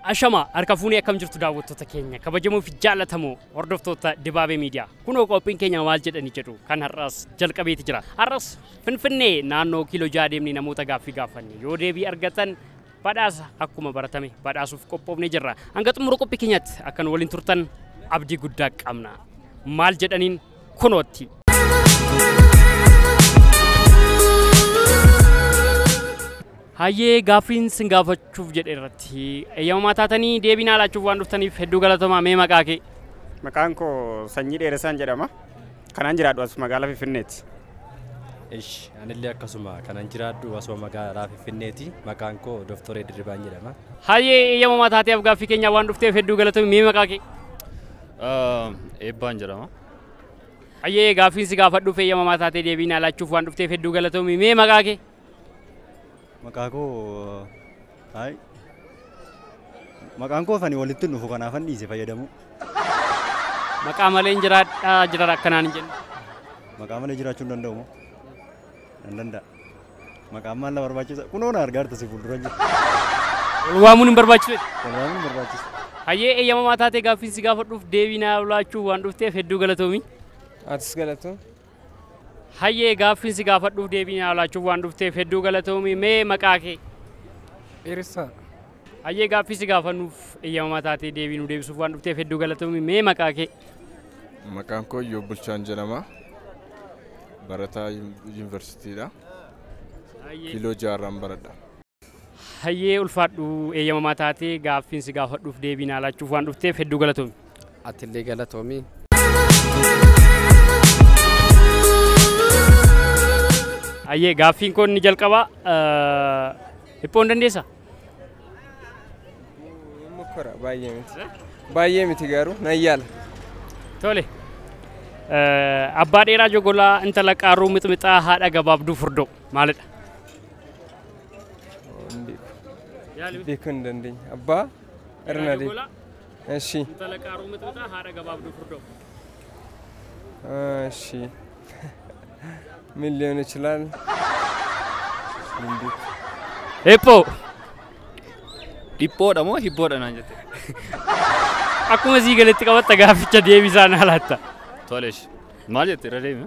Ashama harka fuunee akkam jirtu daawwattoota keenya kabajamoo fi jaallatamoo hordoftoota Dibaabee Miidiyaa. Kunoo qophiin keenya maal jedhanii jedhu kan har'as jalqabeeti jira. Har'as Finfinnee naannoo kiiloo ja'a deemnee namoota gaaffii gaafanne yoo deebii argatan badhaasa akkuma baratame badhaasuuf qophoofnee jirra. Hanga xumura qophii keenyaatti akka nu waliin turtan abdii guddaa qabna. Maal jedhaniin kunootti. Hayyee gaaffiin sin gaafachuuf jedhe irratti eeyyamamaa taatanii deebii naa laachuuf waan dhuftaniif hedduu galatoomaa mee maqaa kee. Maqaan koo Sanyii Dheeressaan jedhama. Kanan jiraadhu as magaalaa Finfinneeti. Ish anillee akkasuma kanan jiraadhu asuma magaalaa Finfinneeti. Maqaan koo Dooktor Dirribaan jedhama. Hayyee eeyyamamaa taatee afgaaffii keenyaa waan dhufteef hedduu galatoomi mee maqaa kee? Eebbaan jedhama. Hayyee gaaffiin si gaafadhuuf eeyyamamaa taatee deebii naa laachuuf waan dhufteef hedduu galatoomi mee maqaa kee? Maqaa koo haay maqaan koo fani walitti hin dhufu kanaafan dhiise fayyadamuu. Maqaa malee hin jiraadhaa jiran akkanaan hin jennu. Maqaa malee jiraachuu hin danda'u moo? Nan danda'a. Maqaan maal na barbaachisa? Kunoo na argaarta si fuuldura jiru. Wal waamuun hin barbaachisu. Wal waamuun hin barbaachisu. Hayyee eeyyamamaa taatee gaaffiin si gaafadhuuf deebii naa laachuuf waan dhufteef hedduu galatoomi. Atis galatoo. Hayyee gaaffiin si gaafadhuuf deebii naa laachuuf waan dhufteef hedduu galatoomi. Mee maqaa kee? Dheeressaa. Hayyee gaaffii si gaafannuuf eeyyamamaa taatee deebii nu deebisuuf waan dhufteef hedduu galatoomi. Mee maqaa kee? Maqaan koo Iyyoob Bulchaan jedhama. Barataa yuun- yuunivarsiitiidha. Hayyee. Kiiloo jaarraan baradha. Hayyee ulfaadhu eeyyamamaa taatee gaaffiin si gaafadhuuf deebii naa laachuuf waan dhufteef hedduu galatoomi. Atillee galatoomi. Hayyee gaaffiin koo inni jalqabaa hiphoo hin dandeessa? Mukkora baay'ee miti. Baay'ee miti garuu nan yaala. Tole. Abbaa dheeraa jogolaa intala qaaruu mixmixaa haadha gabaabduu furdoo. maalidha? Beekuu hin dandeenye. Abbaa irra na deema. Eshi. Intala qaaruu mixmixa haadha gabaabduu furdoo. Eshi. Min liyoon ichilaal. Hiphoo. Dhiphoodha moo hibboodha naan jette? Akkuma sii galetti qabatta gaafficha deebisaa naa laatta. Tolesh. Maal jette irra deemi?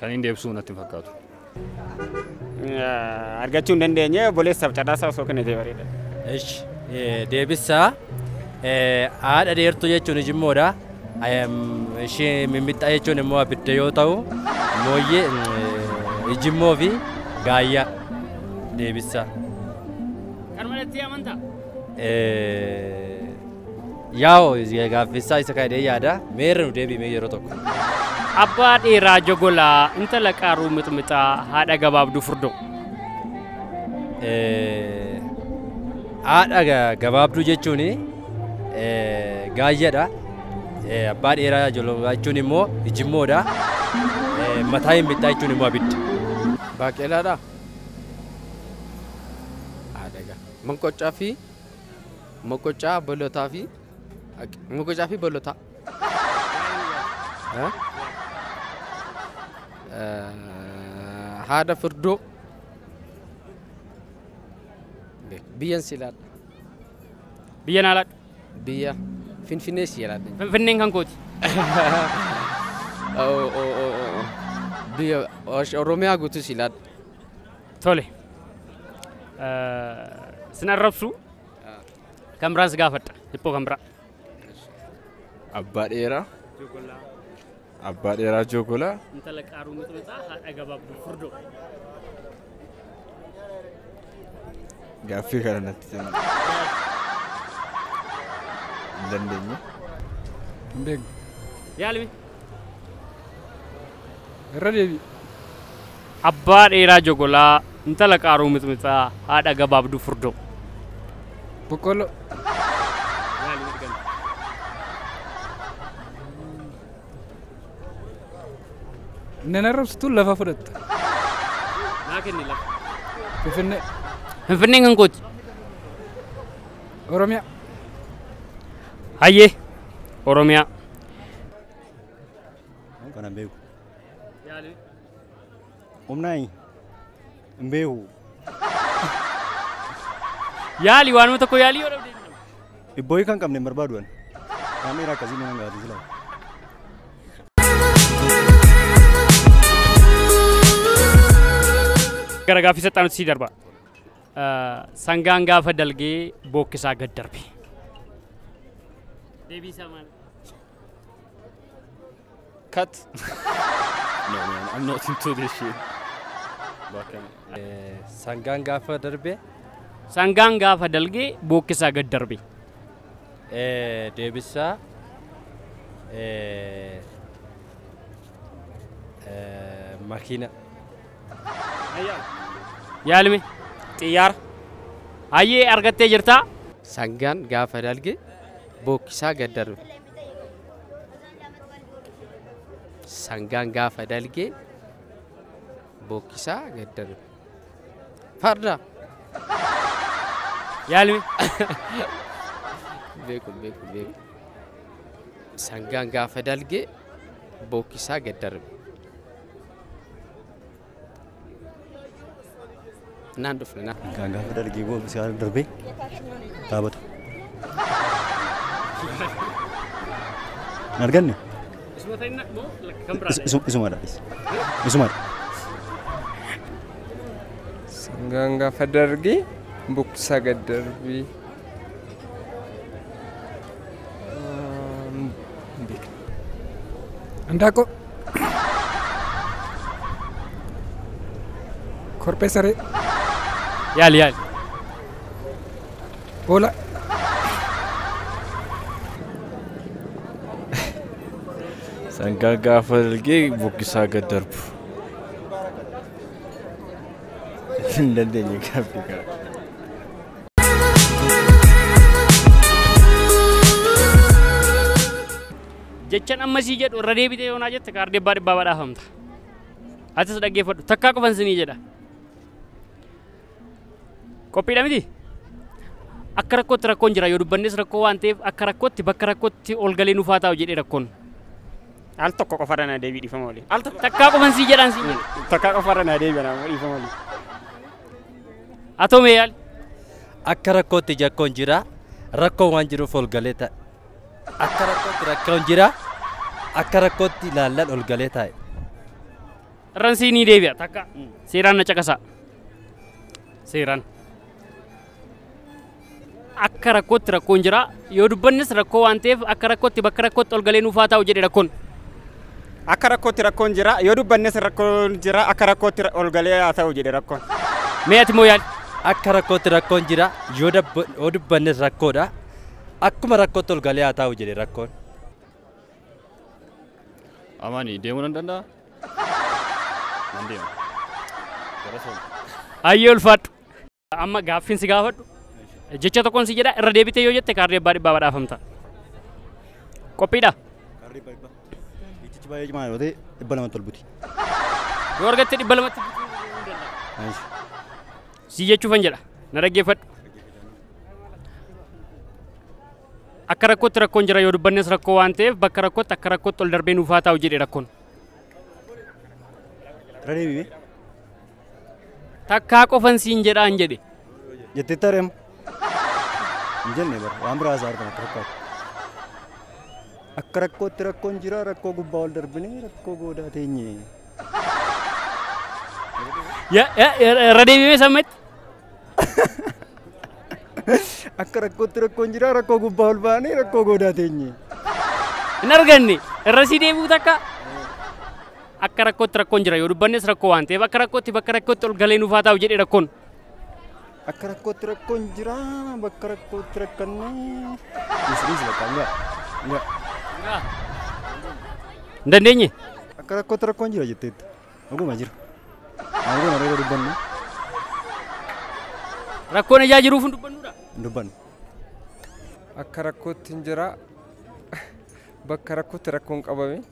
Kan hin deebisuu natti hin fakkaatu. Argachuu hin dandeenye obboleessaaf carraasaa osoo kennitee bareeda. Ish deebissaa haadha dheertuu jechuun ijimmoodha. Ishee mimmixxaa jechuun immoo abidda yoo ta'u mooyyee ijimmoo fi gaayyaa deebissaa. Kan malattii amantaa? Yaa'o gaaffisaa isa kaa'ee yaada meerra nu deebi'ee yeroo tokko. Abbaa dheeraa jogolaa intala qaaruu mixmixaa haadha gabaabduu furdoo. Haadha gabaabduu jechuun gaayyadha. Abbaa dheeraa jololaa jechuun immoo ijimmoodha. Mataa hin bittaa jechuun immoo abidda. Baaqelaadha. Haadha gabaabduu. Monqoccaa fi moqoccaa bolotaa fi moqoccaa fi bolotaa. Eh? Eh, Haadha furdoo. Beek- Biyyan si laadha. Biyya naa laadhu. Biyya Finfinnee si laadha. Finfinneen kan kooti. Oh, oh, oh, oh. Biyya Osh- Oromiyaa guutuu si laadha. Tole. Sin arrabsu kan biraan si gaafadha. Hiphoo kan biraa. Abbaa dheeraa. Abbaa dheeraa joogolaa. Intala qaaruu mixmixaa haadha gabaabduu furdoo. Gaaffii kana natti kenna. Hin dandeenye. Hin beekne. Yaalimi. Irra deebi. Abbaa dheeraa jogolaa, intala qaaruu mixmixaa, haadha gabaabduu furdoo. Boqqolloo. Maali miti ganda? Nan arrabsitu lafa fudhatta. Naa kenni lafa. Finfinnee. Finfinneen kan kooti. Oromiyaa. Hayyee. Oromiyaa. Kana beeku. Yaali. Humnaa hin beeku. Yaali waanuma tokko yaalii yoo dhabde. Ibboo hiika hin qabne hin barbaadu ani. Waan dheeraa akkasii mana hin gaafatu silaa. Gara gaaffii saxxaanutti sii darba. Eh, Sangaan gaafa dalgee bookkisaa gad darbe. Deebii isaa maal? Cut. No man, I'm not into this shit. Bakka. Sangaan gaafa darbe Sangaan gaafa dalge bookkisaa gad darbe. eh, deebisaa eh, eh, makiina Yaalime. Xiyyaara. Hayyee argattee jirtaa? Sangaan gaafa dalge bookkisaa gad darbe. Sangaan gaafa dalgee bookkisaa gad darbe. Farda! Yaalmi. Beeku beeku beeku. Sangaan gaafa dalgee bookkisaa gad darbe. Naan dhufne naan. Kan gaafa dargii boo siyaasa darbee dhaabatu. Hin arganne? Isuma ta'in moo kan biraa Is- isu- Isumadha. is- Isumadha. Sangaan gaafa dargii buksaa gad darbii. Handaaqqoo. Korphee saree. Yaali yaali. Hoolaa. Sangaa gaafa dalgee bokkisaa gad darbu. Hin dandeenye gaaffii kana. jechan amma sii jedhu irra deebitee yoonaa jette kaardii abbaa dhibbaa badhaafamta. Atis dhaggeeffadhu takkaa qofan sinii jedha. Qophiidha miti? Akka rakkootti rakkoon jira yoo dubbannes rakkoo waan ta'eef akka rakkootti bakka rakkootti ol galee nufaa taa'u jedhee rakkoon. Al tokko qofa irra na deebii dhiifama waliin. Al tokko Takkaa qofan sii jedhaan sii jedha. takka qofa irra na deebii na dhiifama waliin. Atoo mee yaali. Akka rakkootti jakkoon jira. Rakkoon waan jiruuf ol galee taa'e. Akka rakkootti rakkoon jira. Akka rakkootti ilaallan ol galee taa'e. Irran sii ni deebi'a takka. Seeraan na caqasaa. Seeraan. akka rakkootti rakkoon jira yoo dubbannes rakkoo waan ta'eef akka rakkootti bakka rakkootti ol galee nuuf haa taa'u jedhe rakkoon. Akka rakkootti rakkoon jira yoo dubbannes rakkoon jira akka rakkootti ol galee haa ta'u jedhe rakkoon. Mee ati moo yaali? Akka rakkootti rakkoon jira yoo dabba- yoo dubbannes rakkoodha akkuma rakkootti ol galee haa taa'u jedhe rakkoon. Amaani deemuu nan danda'a? Nan deema. Gara sana. Hayyee ulfaadhu. Amma gaaffiin si gaafadhu jecha tokkoon si jedha irra deebitee yoo jette kaardii abbaa dhibbaa badhaafamta. Qophiidha. Jechichi baay'ee cimaa yoo ta'e dhibba lamatti ol buti. Yoo argatte dhibba lamatti si jechuufan jedha na dhaggeeffadhu. Akka rakkootti rakkoon jira yoo dubbannes rakkoo waan ta'eef bakka rakkootti akka rakkootti ol darbee nuuf haa taa'u jedhe rakkoon. Irra deebi'ee. Takkaa qofan siin jedhaan jedhe. Jetti tarem. Hin jenne bara waan biraa isaa argama fakkaatu. Akka rakkootti rakkoon jira rakkoo gubbaa ol darbinee rakkoo goodaa teenye. Ya- ya- ya- Irra deebimee sammetti. Akka rakkootti rakkoon jira rakkoo gubbaa ol baanee rakkoo goodaa teenye. Hin arganne. Irra sii deebi'u takka. Akka rakkootti rakkoon jira yoo dubbannes rakkoo waan ta'eef akka rakkootti bakka rakkootti ol galee nuuf haa taa'u jedhe rakkoon. Akka rakkootti rakkoon jira bakka rakkootti rakkannee. Dhiisnis bakka hin ga'a. Hin dandeenye. Akka rakkootti rakkoon jira jetteetta. Dhuguma jira. Maal goona reera dubbannu? Rakkoon ijaa jiruuf hin dubbannudha. Hin dubbannu. Akka rakkootti hin jira. Bakka rakkootti rakkoon qabame.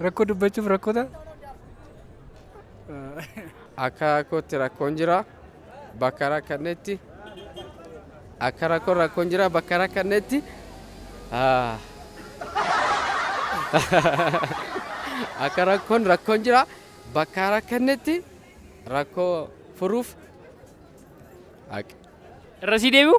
Rakkoo dubbachuuf rakkoo ta'a. Akka rakkootti rakkoon jira. Bakka rakkannetti akka rakkoon rakkoon jira bakka rakkannetti ah, akka rakkoon rakkoon jira bakka rakkannetti rakkoo furuuf haqi. Irra sii deebi'u?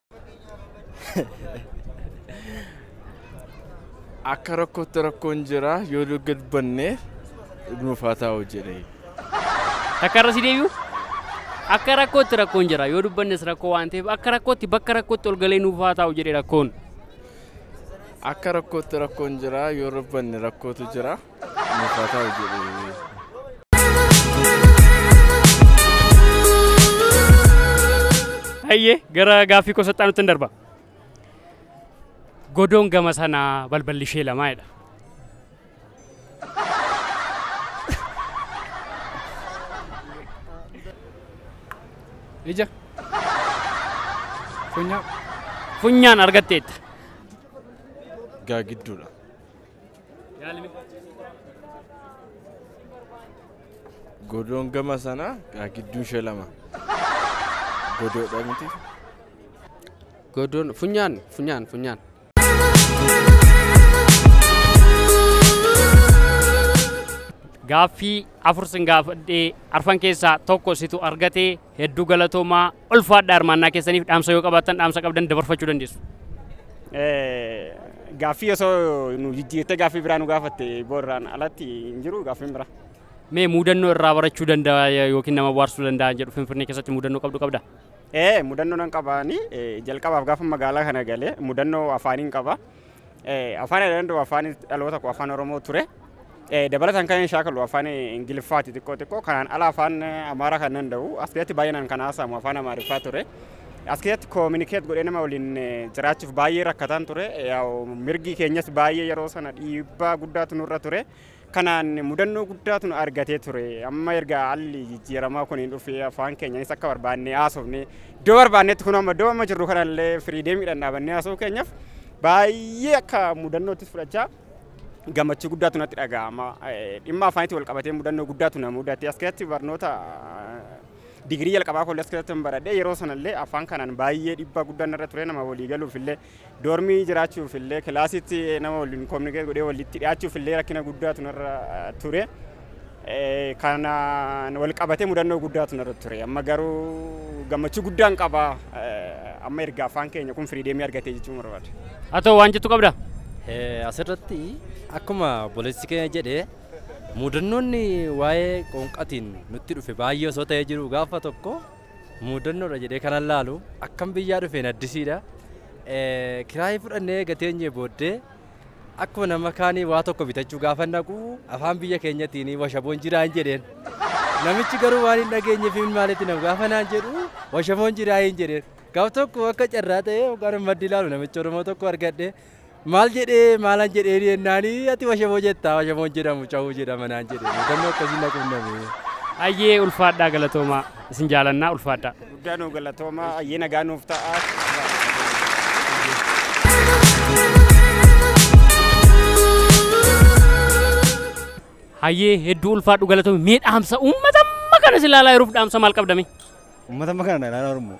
Akka rakkootti rakkoon jira yoo gad banne nuuf haa taa'u jedhe. Takka irra si deebi'u. Akka rakkootti rakkoon jira yoo dubbannes rakkoo waan ta'eef akka rakkootti bakka rakkootti ol galee nuuf haa taa'u jedhe rakkoon. Akka rakkootti rakkoon jira yoo dubbanne rakkootu jira. Nuuf haa taa'u jedhu. Hayyee gara gaaffii koo saxxaa nutti hin darba. Godoon gama sanaa balballi ishee lamaa jedha. Ija. Funyaan. Funyaan argatteetta. Gaagidduudha. Godoon gama sana gaa gidduu ishee lama. Godoodha miti. Godoon funyaan funyaan funyaan. Gaaffii afur sin gaafadhee arfan keessaa tokko situ argate Hedduu galatoomaa ulfaadha hirmaannaa keessaniif dhaamsa yoo qabaattan dhaamsa qabdan dabarfachuu dandeessu. Gaaffii osoo nu jijjiirtee gaaffii biraa nu gaafatte boorraan alatti hin jiru gaaffiin biraa. Mee mudannoo irraa barachuu danda'a yookiin nama bohaarsuu danda'a jedhu Finfinnee keessatti mudannoo qabdu qabda? Ee mudannoo nan qabaani jalqabaaf gaafa magaalaa kana galee mudannoo afaaniin qaba. Afaan ani danda'u afaan dhaloota koo afaan Oromoo ture. Dabalataan kan shaakalu afaan Ingiliffaati xiqqoo xiqqoo kanaan ala afaan Amaaraa kan danda'u as keessatti baay'inaan kan haasa'amu afaan Amaariffaa ture. As keessatti koominikeet godhee nama waliin jiraachuuf baay'ee rakkataan ture. Mirgi keenyas baay'ee yeroo sana dhiibbaa guddaatu nurra ture. Kanaan mudannoo guddaatu nu argatee ture. Amma erga haalli jijjiiramaa kun dhufee afaan keenyaanis akka barbaannee haasofnee iddoo barbaannetti kun amma iddoo amma jirru kanallee firiideemiidhaan dhaabannee haasofuu keenyaaf baay'ee akka mudannoottis fudhachaa gammachuu guddaatu natti dhaga'ama. Dhimma afaanitti wal qabatee mudannoo guddaatu na mudate. As keessatti barnoota digirii jalqabaa koollee as keessatti hin baradhe. Yeroo sanallee afaan kanaan baay'ee dhiibbaa guddaan irra ture nama walii galuuf illee Doormii jiraachuuf illee kilaasitti nama waliin kominikeet godhee walitti dhiyaachuuf illee rakkina guddaatu narra ture. Kanaan wal qabatee mudannoo guddaatu narra ture. Amma garuu gammachuu guddaan qaba. Amma erga afaan keenya kun firiideemii argatee jechuun barbaada. Haa ta'u waan jettu qabda? Asirratti akkuma obboleessi keenya jedhe mudannoonni waa'ee qoonqatiin nutti dhufe baay'ee osoo ta'ee jiru gaafa tokko Muudannoodha jedhee kanan laalu akkan biyyaa dhufeen addisiidha. Kiraayii fudhannee eega teenyee booddee akkuma nama kaanii waa tokko bitachuu gaafa naqu afaan biyya keenyatiin washaboon jiraan jedheen. Namichi garuu waan hin dhageenyeef hin maalitti nama gaafa naan jedhu washaboon jiraa hin jedheen. Gaaf tokko akka carraa ta'ee hoggaan maddi ilaalu namicha Oromoo tokko argadhe. Maal jedhee maalan jedheeni jennaani ati washamoo jettaa washamoon jedhamu cawuu jedhama naan jedhe mudannoo akkasii na qunname. Ayyee ulfaadhaa galatoomaa isin jaalannaa ulfaadhaa. Guddaa nuu galatoomaa ayyee nagaa nuuf ta'aa. Hayyee hedduu ulfaadhu galatoomi mee dhaamsa uummata amma kana si ilaalaa jiruuf dhaamsa maal qabdame? Uummata amma kana na ilaalaa jiru immoo.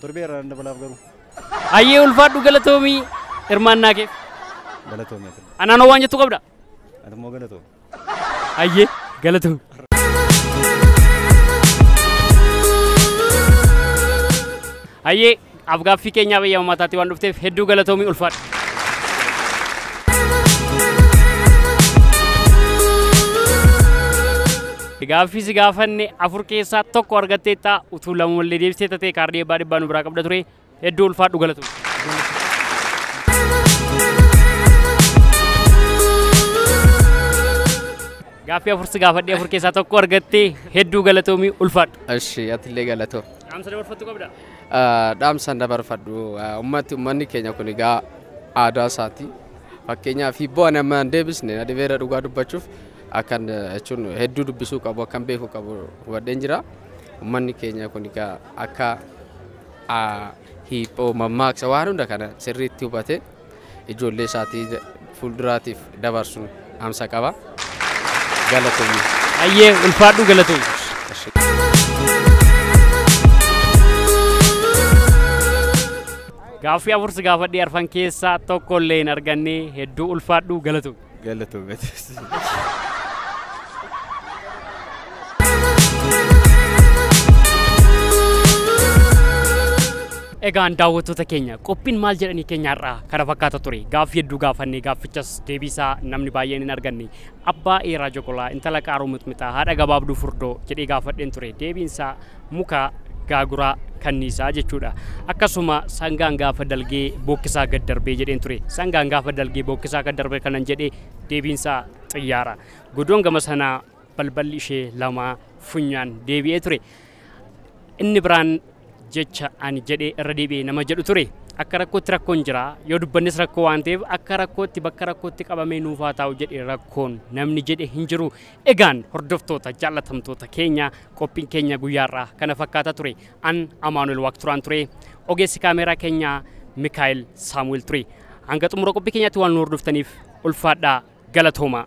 Torbee irraa nan dabalaaf garuu. Hayyee ulfaadhu galatoomii hirmaannaa keef. Galatoomi ati. Anaanoo waan jettu qabda? Ati immoo galatoomi. Hayyee galatoomi. Hayyee afgaaffii keenyaaf eeyyama mataatti waan dhufteef hedduu galatoomii ulfaadhu. Gaaffii si gaafanne afur keessaa tokko argatteetta utuu lama wallee deebistee tatee kaardii eebbaa dhibbaa nu biraa qabda ture hedduu ulfaadhu galatoom. Gaaffii afur si gaafadhee afur keessaa tokko argattee hedduu galatoomii ulfaadhu. Eshi atillee galatoo. Dhaamsa dabarfattu qabda. Dhaamsan dabarfadhu ummatti ummanni keenya kun egaa aadaa isaati. Fakkeenyaaf hibboo ani amma hin deebisne na dhibeera dhugaa dubbachuuf akkan jechuun hedduu dubbisuu qabu akkan beeku qabu hubadheen jira. Uummanni keenya kun egaa akka aa, hiiphoo mammaaksa waan hunda kana sirriitti hubate ijoollee isaatii da- fuulduraatiif dabarsu amsa qaba. Galatoomi. Ayyee ulfaadhu galatoomsi. Gaaffii afur si gaafadhee arfan keessaa tokko illee hin arganne hedduu ulfaadhu galatoomsi. Galatoomi atis. Egaan daawwattoota keenya qophiin maal jedhanii keenya har'aa kana fakkaata ture gaaffii hedduu gaafannee gaaffichas deebiisaa namni baay'een hin arganne abbaa eeraa joqolaa intala qaaruu mixmixaa haadha gabaabduu furdoo jedhee gaafadheen ture deebiinsaa mukaa, gaaguraa, kanniisaa jechuudha. Akkasuma sangaan gaafa dalgee bookkisaa gad darbee jedheen ture. Sangaan gaafa dalgee bookkisaa gad darbe kanan jedhe deebiinsaa xiyyaara. Godoon gama sanaa balballi ishee lamaa funyaan deebi'ee ture. Inni biraan jecha ani jedhee irra deebi'ee nama jedhu ture. Akka rakkootti rakkoon jira. Yoo dubbannes rakkoo waan ta'eef akka rakkootti bakka rakkootti qabamee nuufaa taa'u jedhe rakkoon namni jedhe hin jiru. Egaan hordoftoota jaallatamtoota keenya qophiin keenya guyyaarraa kana fakkaata ture. An Amaanuel Waaqturaan ture. Ogeessi kaameeraa keenya Mikaa'el Saamu'el ture. Hanga xumura qophii keenyaatti waan nu hordoftaniif ulfaadhaa galatoomaa.